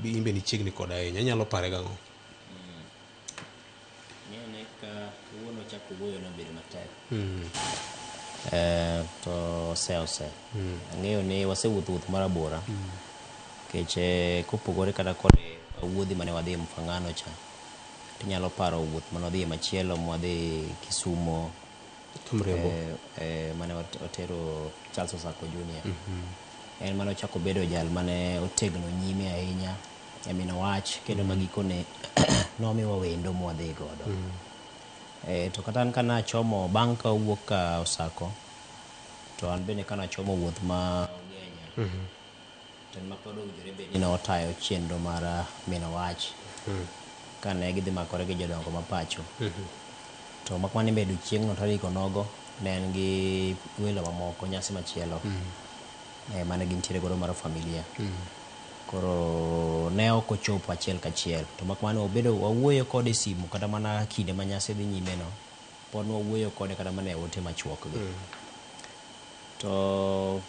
in be nichiegni koda ahinya inyalo pare gang'o ng'ene ka wuon ochako wuoyo nobedo matek hmm. eh, to ose ose hmm. ang'eyo ni wasewuotho wuoth mar abora hmm. keche eh, kopogore kata kod wuodhi mane wadhi e mfangano cha tinyalo paro wuoth mane wadhi e machielo mwadhi kisumo Mrembo. eh, eh, mane ot- otero Charles Osako Junior. En mane ochako bedo jal mane otegno nyime ahinya e mino wach kendo ma gikone nomiwa wendo mwadhi godo. Eh, to kata an ka nachomo bang' ka owuok ka Osako to an bende ka nachomo wuoth ma Ugenya to en ma pod owinjore bed ni ne otayo chenro mar ah, mino wach kane gidhi makore gi jodongo ma pacho to mak mana ni bedo chieng'no tarik onogo ne en gi welo mamoko nyasi machielo eh, mane gintiere godo mar familia koro ne ok ochopo achiel kachiel to mak mana ni wabedo wawuoyo kode e simu kata mana kinde ma nyasi dhi nyimeno Pod nwawuoyo kode kata mana e ote machuokgi. To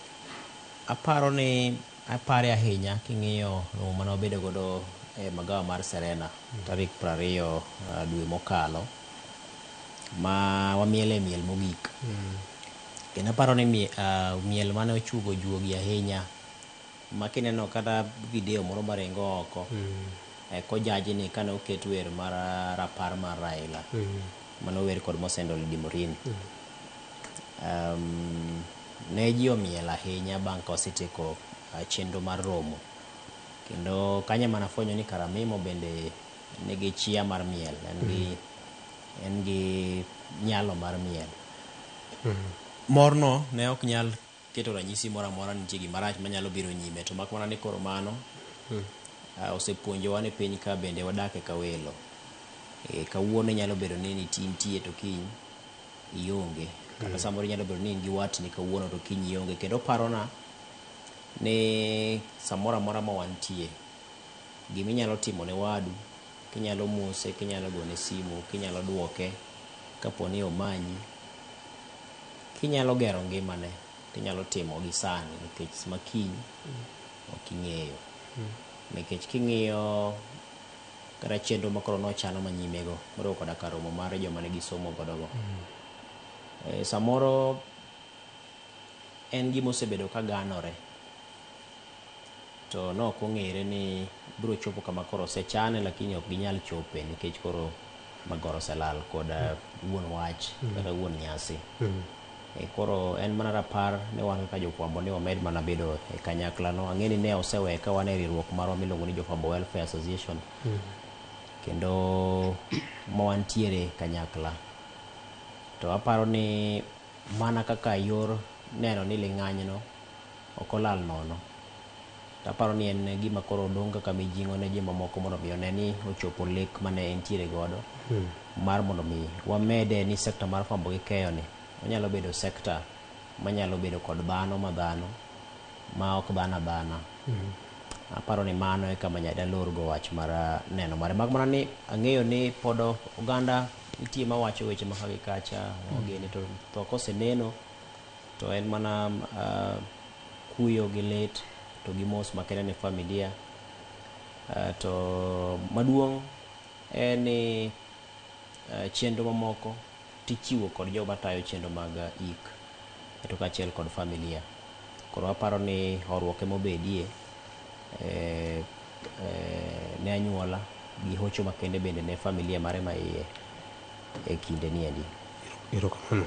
aparo ni apare ahinya king'iyo romo mane wabedo godo e magawa mar Serena tarik piero ariyo ah, dwe mokalo ma wamiele miel mogik. Kendo aparo ni mie- ah, miel mane ochuogo juogi ahinya ma kineno kata video moro maringo oko e kojaji ni kane oket wer mar rapar mar Raila mane ower kod Mosendo Lady Murini um, ne ji omiel ahinya bang' ka wasetieko uh, chenro mar romo kendo kanyo ema nafwenyo ni Karamimo bende nigi chia mar miel en gi en gi nyalo mar miel morno ne ok nyal keto ranyisi moro amora ni nitie gima rach manyalo biro nyime. To mak mana ni koro mano osepuonjowa ni piny ka bende wadake ka welo. Eh, Kawuono inyalo bedo ni niti- intie to kiny ionge. Kata samoro inyalo bedo ni in gi watni kawuono to kiny ionge. Kendo oparona ni samoro amora ma wantie, gima inyalo timo ne wadu, kinyalo mose, kinyalo gone simu, kinyalo duoke kapo ni omanyi, Kinyalo gero ngimane to inyalo timo gi sani nikech ma kiny ok ing'eyo. Nikech king'iyo kata chenro ma koro nochano ma nyimego moriwo koda ka romo mar joma ne gisomo godogo, eh, samoro en gima osebedo ka ganore. to ne ok ong'ere ni biro chopo kama koro osechane lakini ok ginyal chope nikech koro magoro oselal kod eh, wuon wach kata wuon nyasi E, koro en mana rapar ni wan kaka jofwambo ni wamed mana bedo e kanyakla no ang'e ni ne osewe ka wan e riwruok marwa miluongo ni jofwambo welfare association kendo ma wantiere e kanyakla to aparo ni mana kaka yor neno ni ling'anyno Ok olal nono. To aparo ni en gima koro dong' kaka mijing'o ne jomamoko mondo mi one ni ochopo lek mane entiere godo mar mondo mi wamede ni sector mar fwambo gi keyo ni onyalo bedo sector manyalo bedo kod dhano ma dhano ma ok dhano adhana. Aparo ni mano e kama nya dalor go wach mar neno mare. Mak mana ni ang'eyo ni pod oganda nitie mawacho weche ma ka gi kacha, wageni to tho koseneno. To en mana kuyo gi lit to gi mos makende ne familia. To maduong' en ni chenro mamoko to ichiwo kod jogo matayo chenro mag ik to kaachiel kod familia. Koro aparo ni horuok ema obedie ne anyuola gi hocho makende bende ne familia mare maiye ekinde niendi. Erokamano.